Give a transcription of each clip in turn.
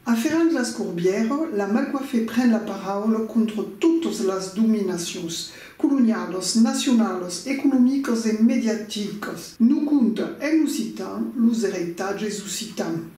Aferrant las corbières, la malcoifée pren la paraula contra totas las dominacions, colonialas, nacionalas, economicas e mediaticas. Nos conta en occitan los ereitatges occitans.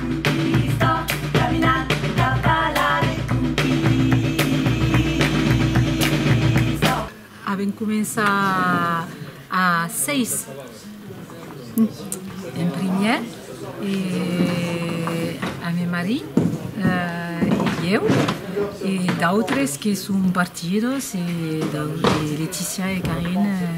Avèm començat a 6 en primièr e a me mari e ieu e d'autres que son partidos e Leticia e Carine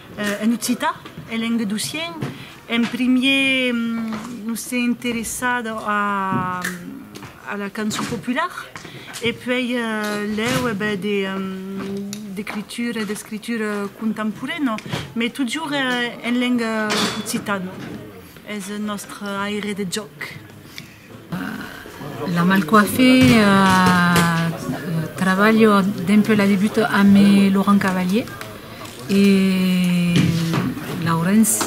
En occitan, en lenguedocién, en primier nos sèm interessat a la cançon popular e puèi lèu e ben d'escritura contemporaina, mai totjorn en lenga occitana, es nòstre aire de jòc. La Malcoiffé, trabalho dempuèi la debut amb Laurent Cavalier e Laurens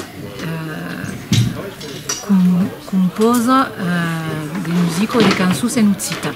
compòsa de musica e de cançons en occitan.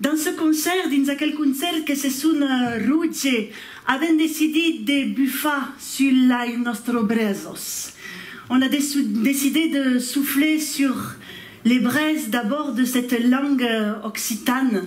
Dins ce concèrt, dins aquel concèrt que se sona Rouge, avèm decidit de bufar sul lai nòstre brèzos. On a decidit de soufler sur le brèz d'abòrd de cette langue occitane.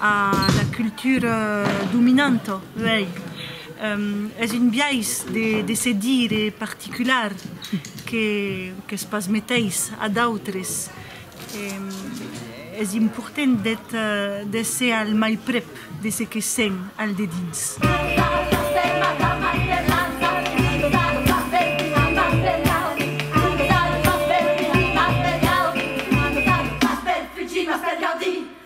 a la cultura dominanta, uèi, es un biais de se dire particular qu'es pas meteis a d'autres, es important d'èsser al mai prèp de se que sèm al dedins.